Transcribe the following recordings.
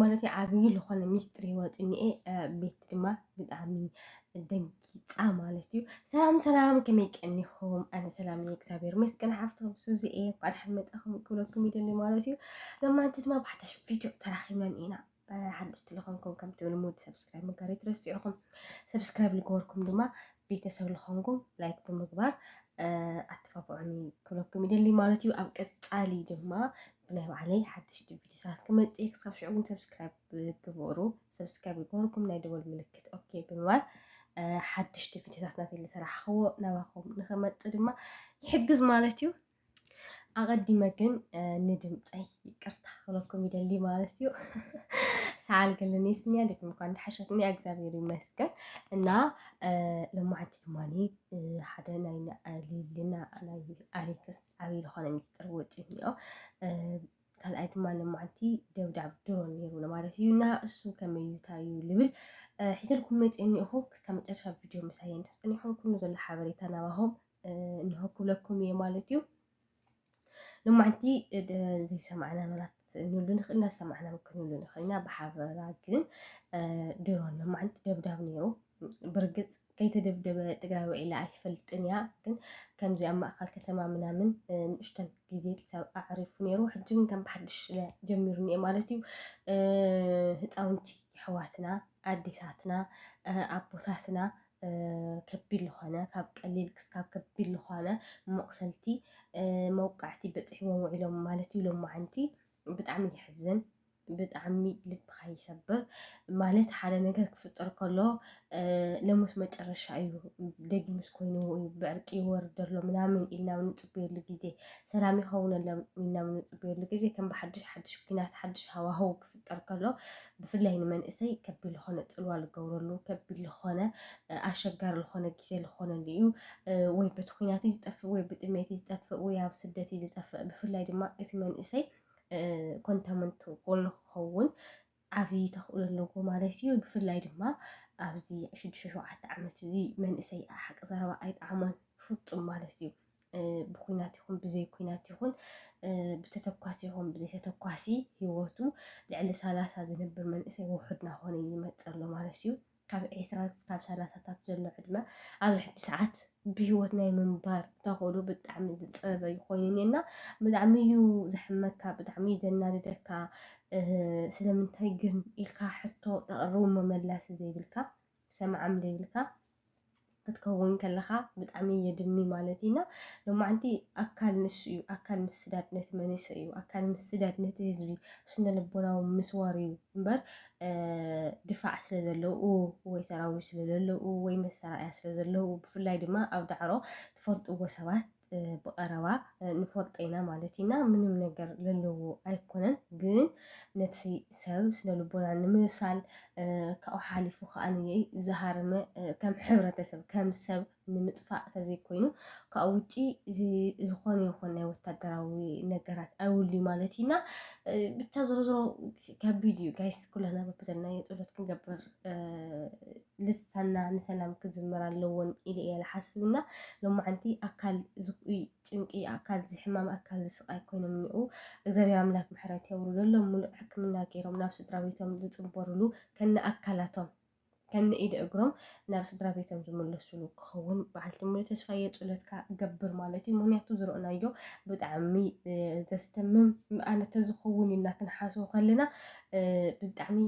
ማለተይ ዓብዪ ዝኾነ ሚስጥር ይወፅኒኤ ቤት ድማ ብጣዕሚ ደንጊፃ ማለት እዩ። ሰላም ሰላም፣ ከመይ ቀኒኹም? ኣነ ሰላም እየ እግዚኣብሔር ይመስገን። ሓፍቶም ሱዚ እየ እንኳዕ ደሓን መፃኹም ክብለኩም ይደሊ ማለት እዩ። ለማንቲ ድማ ብሓዳሽ ቪድዮ ተራኺብናን ኢና ሓደሽቲ ዝኾንኩም ከምቲ ልሙድ ሰብስክራይብ ምግባር ይትረስዑኹም። ሰብስክራይብ ዝገበርኩም ድማ ቤተሰብ ዝኾንኩም ላይክ ብምግባር ኣተባብዑኒ ክብለኩም ይደሊ ማለት እዩ። ኣብ ቀፃሊ ድማ ናይ ባዕለይ ሓደሽቲ ቪድዮታት ክመጽእ እየ ክሳብ ሽዑ ግን ሰብስክራይብ ግበሩ ሰብስክራይብ ይገበርኩም ናይ ደወል ምልክት ኦኬ ብምባል ሓድሽቲ ቪድዮታት ናተይ ዝሰራሕኽዎ ናባኹም ንኽመፅእ ድማ ይሕግዝ ማለት እዩ ኣቐዲመ ግን ንድምፀይ ይቅርታ ክብለኩም ይደሊ ማለት እዩ ሰዓል ገለኔት እኒያ እንዴት እንኳን እንደሓሸት እኒያ እግዚኣብሔር ይመስገን እና ለማዓንቲ ድማኒ ሓደ ናይ ሊልና ናይ ኣሌክስ ዓብዪ ዝኾነ ሚስጥር ወፂኡ እኒኦ። ካልኣይ ድማ ልማዓንቲ ደብዳብ ድሮ ነይሩ ማለት እዩ እና እሱ ከመዩታ እዩ ልብል ሒዘልኩም መፅ እኒኹ ክሳብ መጨረሻ ቪድዮ ምሳይ እንድሕፅን ይኹን ኩሉ ዘሎ ሓበሬታ ናባኹም እንሆ ክብለኩም እየ ማለት እዩ ልማዓንቲ ዘይሰማዕና መራት ንሉ ንኽእል ኢና ሰማዕና ክንብሉ ንኽእል ኢና ብሓበራ ግን ድሮ ልማዓንቲ ደብዳብ ነይሩ ብርግፅ ከይተደብደበ ትግራይ ውዒላ ኣይትፈልጥን እያ ግን ከምዚ ኣብ ማእከል ከተማ ምናምን ንእሽተን ግዜ ክሳብ ኣዕሪፉ ነይሩ ሕጂ ግን ከም ብሓድሽ ጀሚሩ እኒኤ ማለት እዩ ህፃውንቲ የሕዋትና ኣዴታትና ኣቦታትና ከቢድ ዝኾነ ካብ ቀሊል ክስካብ ከቢድ ዝኾነ መቑሰልቲ መውቃዕቲ በፂሕዎም ውዒሎም ማለት እዩ ሎማዓንቲ ብጣዕሚ የሕዝን ብጣዕሚ ልብካ ይሰብር ማለት ሓደ ነገር ክፍጠር ከሎ ለሙስ መጨረሻ እዩ ደጊሙስ ኮይኑ እዩ ብዕርቂ ይወርድ ኣሎ ምናምን ኢልና ብ ንፅበየሉ ግዜ ሰላም ይኸውነሎም ኢልና ብ ንፅበየሉ ግዜ ከም ብሓዱሽ ሓዱሽ ኩናት ሓዱሽ ሃዋህው ክፍጠር ከሎ ብፍላይ ንመንእሰይ ከቢድ ዝኾነ ፅልዋ ዝገብረሉ ከቢድ ዝኾነ ኣሸጋሪ ዝኾነ ግዜ ዝኾነሉ እዩ ወይ በቲ ኩናት ዝጠፍእ ወይ ብጥሜት ዝጠፍእ ወይ ኣብ ስደት ዝጠፍእ ብፍላይ ድማ እቲ መንእሰይ ኮንታመንት ጎልኒ ክኸውን ዓብዪ ተኽእሎ ኣለዎ ማለት እዩ። ብፍላይ ድማ ኣብዚ ሽዱሽተ ሸውዓተ ዓመት እዚ መንእሰይ ሓቂ ዘረባ ኣይጠዓሞን ፍፁም ማለት እዩ። ብኩናት ይኹን ብዘይ ኩናት ይኹን ብተተኳሲ ይኹን ብዘይ ተተኳሲ ሂወቱ ልዕሊ ሰላሳ ዝነብር መንእሰይ ውሑድ ናኾነ ይመፀ ኣሎ ማለት እዩ። ካብ ዕስራ ክሳብ ሰላሳታት ዘሎ ዕድመ ኣብዚ ሕጂ ሰዓት ብሂወት ናይ ምንባር ተኽእሎ ብጣዕሚ ዝጸበ እዩ ኮይኑ እኔና ብጣዕሚ እዩ ዘሕመካ ብጣዕሚ እዩ ዘናድደካ ስለምንታይ ግን ኢልካ ሕቶ ተቕርቡ መመላሲ ዘይብልካ ሰምዓም ዘይብልካ ክትከውን ከለኻ ብጣዕሚ የድሚ ማለት እዩ እና ሎማዓንቲ ኣካል ንሱ እዩ ኣካል ምስዳድ ነቲ መንእሰይ እዩ ኣካል ምስዳድ ነቲ ህዝቢ ስነ ልቦናዊ ምስዋር እዩ እምበር ድፋዕ ስለ ዘለዉ ወይ ሰራዊት ስለ ዘለዉ ወይ መሰራእያ ስለ ዘለዉ ብፍላይ ድማ ኣብ ዳዕሮ ትፈልጥዎ ሰባት ብቀረባ ንፈልጦ ኢና ማለት እዩ እና ምንም ነገር ለለዎ ኣይኮነን ግን ነቲ ሰብ ስነ ልቦና ንምብሳል ካብኡ ሓሊፉ ከዓ ዝሃረመ ከም ሕብረተሰብ ከም ሰብ ንምጥፋእ ተዘይኮይኑ ካብኡ ውጪ ዝኾነ ይኾን ናይ ወታደራዊ ነገራት ኣይውልዩ ማለት እዩ እና ብቻ ዞሮ ዞሮ ከቢድ እዩ ጋይስ ኩላና በብዘለናዮ ፀሎት ክንገብር ልሳና ንሰላም ክዝምር ኣለዎን ኢለ እየ ልሓስብ እና ሎማዓንቲ ኣካል ዝኩይ ጭንቂ ኣካል ዝሕማም ኣካል ዝስቃይ ኮይኖም እኒኡ እግዚኣብሔር ኣምላክ ምሕረት የውርደሎም ሙሉእ ሕክምና ገይሮም ናብ ስድራ ቤቶም ዝፅበርሉ ከነ ኣካላቶም ከነ ኢደ እግሮም ናብ ስድራ ቤቶም ዝምለስሉ ክኸውን በዓልቲ ሙሉ ተስፋ እየ ፁለትካ ገብር ማለት እዩ ምክንያቱ ዝረእናዮ ብጣዕሚ ዘስተምም ኣነ ተዝኸውን ኢልና ክንሓስቦ ከለና ብጣዕሚ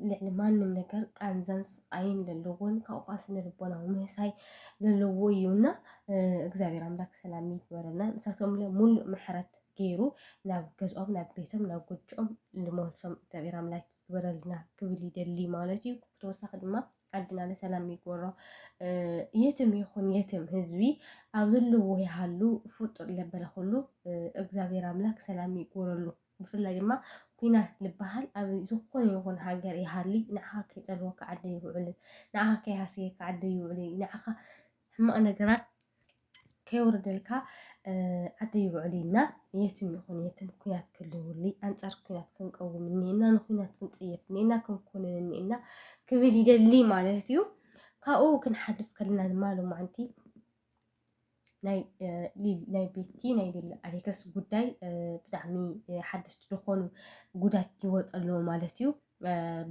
ልዕሊ ማንም ነገር ቃንዛን ስቃይን ለለዎን ካብኡ ከዓ ስነ ልቦናዊ ምህሳይ ለለዎ እዩ እና እግዚኣብሔር ኣምላክ ሰላም ይግበረና ንሳቶም ለ ሙሉእ ምሕረት ገይሩ ናብ ገዝኦም ናብ ቤቶም ናብ ጎጆኦም ልመልሶም እግዚኣብሔር ኣምላክ ይግበረልና ክብል ይደሊ ማለት እዩ ብተወሳኺ ድማ ዓድና ለሰላም ይግበሮ የትም ይኹን የትም ህዝቢ ኣብ ዘለዎ ይሃሉ ፍጡር ለበለ ኩሉ እግዚኣብሔር ኣምላክ ሰላም ይግበረሉ ብፍላይ ድማ ኩናት ልበሃል ኣብ ዝኾነ ይኹን ሃገር ይሃሊ ንዓኻ ከይጸልወካ ዓዲ ኣይውዕልን ንዓኻ ከይሃሰየካ ዓዲ ኣይውዕልን እዩ ንዓኻ ሕማቕ ነገራት ከይወርደልካ ዓዲ ኣይውዕልን እና የትም ይኹን የትም ኩናት ክልውሊ ኣንጻር ኩናት ክንቀውም እኒኤና ንኩናት ክንጽየፍ እኒኤና ክንኮንን እኒኤና ክብል ይደሊ ማለት እዩ ካብኡ ክንሓልፍ ከለና ድማ ሎማዓንቲ ናይ ቤቲ ናይ ቤላ ኣሌክስ ጉዳይ ብጣዕሚ ሓደስቲ ዝኾኑ ጉዳት ይወፅ ኣለዎ ማለት እዩ።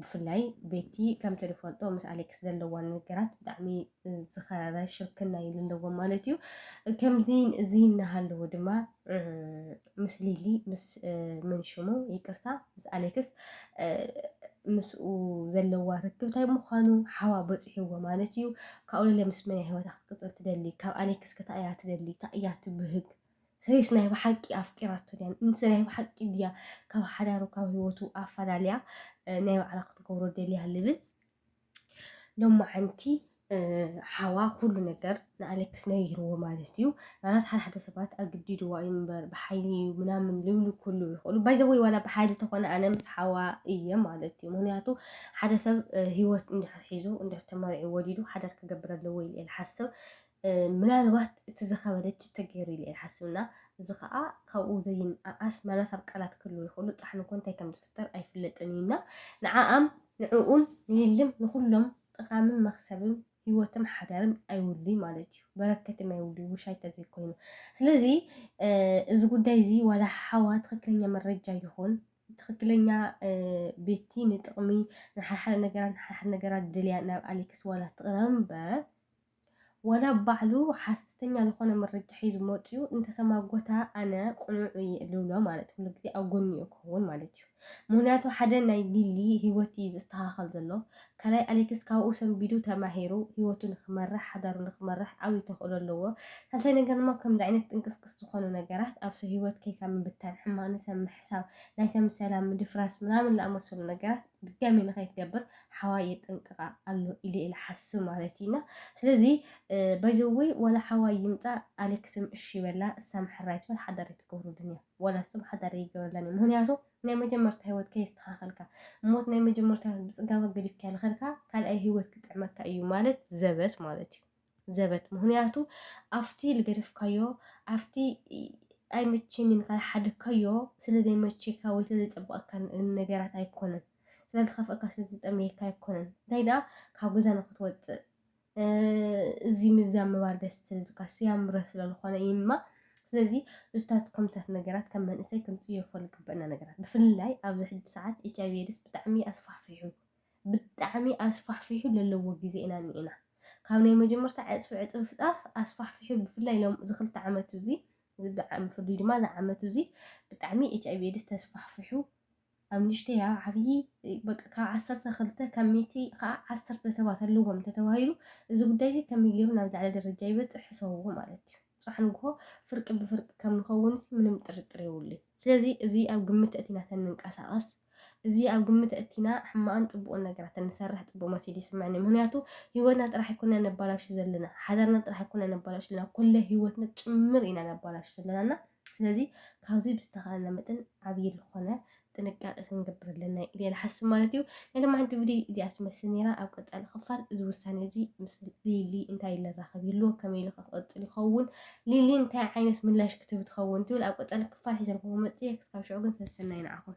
ብፍላይ ቤቲ ከምቲ ንፈልጦ ምስ ኣሌክስ ዘለዋ ነገራት ብጣዕሚ ዝኸረረ ሽርክና እዩ ዘለዎም ማለት እዩ። ከምዚ እዚ እናሃለዎ ድማ ምስ ሊሊ ምስ መንሽሙ ይቅርታ ምስ ኣሌክስ ምስኡ ዘለዋ ርክብ እንታይ ምዃኑ ሓዋ በፂሕዎ ማለት እዩ ካብኡ ለለ ምስ መን ህይወታ ክትቅፅል ትደሊ ካብ ኣሌክስ ከታ እያ ትደሊ እታ እያ ትብህግ ሰሪስ ናይ ብሓቂ ኣፍቂራቶ ድያ እንተ ናይ ብሓቂ ድያ ካብ ሓዳሩ ካብ ህይወቱ ኣፈላልያ ናይ ባዕላ ክትገብሮ ደልያ ልብል ሎማዓንቲ ሓዋ ኩሉ ነገር ንኣሌክስ ነይርዎ ማለት እዩ ማለት ሓደ ሓደ ሰባት ኣግዲድዋ እዩ እምበር ብሓይሊ እዩ ምናምን ልብሉ ኩሉ ይኽእሉ ባይዘወይ ዋላ ብሓይሊ ተኾነ ኣነ ምስ ሓዋ እየ ማለት እዩ ምክንያቱ ሓደ ሰብ ሂወት እንድሕር ሒዙ እንድሕር ተመሪዑ ወሊዱ ሓዳር ክገብር ኣለዎ ኢለ ሓስብ ምናልባት እቲ ዝኸበደ ችቶ ገይሩ ኢለ እየ ዝሓስብ እና እዚ ኸኣ ካብኡ ዘይንኣኣስ ምናልባት ቃላት ክህልዎ ይኽእሉ ጻሕሊ እኮ እንታይ ከም ዝፍጠር ኣይፍለጥን እዩ እና ንዓኣም ንዕኡም ንሊሊም ንኹሎም ጠቓምን መኽሰብም ህይወትም ሓዳርም ኣይውልይ ማለት እዩ በረከትም ኣይውልይ ውሻይ ተዘይኮይኑ ስለዚ እዚ ጉዳይ እዚ ዋላ ሓዋ ትክክለኛ መረጃ ይኹን ትክክለኛ ቤቲ ንጥቕሚ ንሓሓደ ነገራት ንሓሓደ ነገራት ድልያ ናብ ኣሌክስ ዋላ ትቕረብ እምበር ዋላ ባዕሉ ሓስተተኛ ልኾነ መረጃ ሒዙ መጽዩ እንተተማጎታ ኣነ ቁኑዕ እየ ልብሎ ማለት ኩሉ ግዜ ኣብ ጎኒኡ ክኸውን ማለት እዩ ምክንያቱ ሓደ ናይ ሊሊ ሂወት እዩ ዝስተኻኸል ዘሎ ካላይ ኣሌክስ ካብኡ ሰንቢዱ ተማሂሩ ሂወቱ ንክመርሕ ሓዳሩ ንክመርሕ ዓብይ ተኽእሎ ኣለዎ ሳልሳይ ነገር ድማ ከምዚ ዓይነት ጥንቅስቅስ ዝኾኑ ነገራት ኣብ ሰብ ሂወት ከይካ ምብታን ሕማቅ ንሰብ ምሕሳብ ናይ ሰብ ሰላም ምድፍራስ ምናምን ዝኣመሰሉ ነገራት ድጋሚ ንከይትገብር ሓዋይ የጠንቅቃ ኣሎ ኢለ ኢለ ሓስብ ማለት እዩ እና ስለዚ ባይዘወይ ዋላ ሓዋይ ይምፃእ ኣሌክስም እሺ ይበላ እሳም ሕራይ ትበል ሓዳር ኣይትገብሩልን እዮም ዋላ እሱም ሓዳር ኣይገብረላን እዩ ምክንያቱ ናይ መጀመርታ ህይወት ከየስተካከልካ ሞት ናይ መጀመርታ ብፅጋባ ገዲፍካ ልከድካ ካልኣይ ህይወት ክጥዕመካ እዩ ማለት ዘበት ማለት እዩ ዘበት ምክንያቱ ኣብቲ ልገደፍካዮ ኣብቲ ኣይመቸን ኢልካ ዝሓደግካዮ ስለ ዘይመቸካ ወይ ስለ ዘይጸበቐካ ነገራት ኣይኮነን ስለ ዝኸፍአካ ስለ ዝጠመየካ ኣይኮነን እንታይ ደኣ ካብ ገዛ ንክትወጽእ እዚ ምዛ ምባል ደስ ስልካ ስያምረ ስለዝኾነ እዩማ ስለዚ እዝታት ከምታት ነገራት ከም መንእሰይ ክንፅየፈሉ ግበአና ነገራት ብፍላይ ኣብዚ ሕጂ ሰዓት ኤች ኣይቪ ኤድስ ብጣዕሚ ኣስፋሕፊሑ ብጣዕሚ ኣስፋሕፊሑ ለለዎ ግዜ ኢና እኒኤና ካብ ናይ መጀመርታ ዕጽፊ ዕጽፍጣፍ ኣስፋሕፊሑ ብፍላይ ሎም እዚ ክልተ ዓመት እዚ ብፍሉይ ድማ እዚ ዓመት እዚ ብጣዕሚ ኤች ኣይቪ ኤድስ ተስፋሕፊሑ ኣብ ንእሽተይ ኣብ ዓብዪ በቃ ካብ ዓሰርተ ክልተ ካብ ሚእቲ ከዓ ዓሰርተ ሰባት ኣለዎም ተተባሂሉ እዚ ጉዳይ እዚ ከመይ ገይሩ ናብ ዝለዓለ ደረጃ ይበፅሕ ሕሰብዎ ማለት እዩ ጽባሕ ንግሆ ፍርቂ ብፍርቂ ከም ንኸውንሲ ምንም ጥርጥር የብሉይ። ስለዚ እዚ ኣብ ግምት ኣእቲና ተንንቀሳቐስ፣ እዚ ኣብ ግምት ኣእቲና ሕማቕን ጽቡቕን ነገራት ተንሰርሕ ጽቡቕ መሲሉ ይስመዕኒ። ምክንያቱ ህይወትና ጥራሕ ኣይኮንና ነባላሹ ዘለና፣ ሓዳርና ጥራሕ ኣይኮንና ነባላሹ ዘለና፣ ኩለ ህይወትና ጭምር ኢና ነባላሹ ዘለና እና ስለዚ ካብዚ ብዝተኻእለና መጠን ዓብይ ልኾነ ጥንቃቄ ክንገብር ኣለና ኢለ ይሓስብ ማለት እዩ። ናይ ሎማዓንቲ ቪድዮ እዚኣ ትመስል ነይራ። ኣብ ቀፃሊ ክፋል እዚ ውሳኔ እዚ ምስ ሊሊ እንታይ ኢለ ራኸብ ይህሉ ከመይ ኢሉ ክቕፅል ይኸውን ሊሊ እንታይ ዓይነት ምላሽ ክትህብ ትኸውን ትብል ኣብ ቀፃሊ ክፋል ሒዘልኩም መፅየ ክስካብ ሽዑ ግን ሰሰናይ ንዓኹም።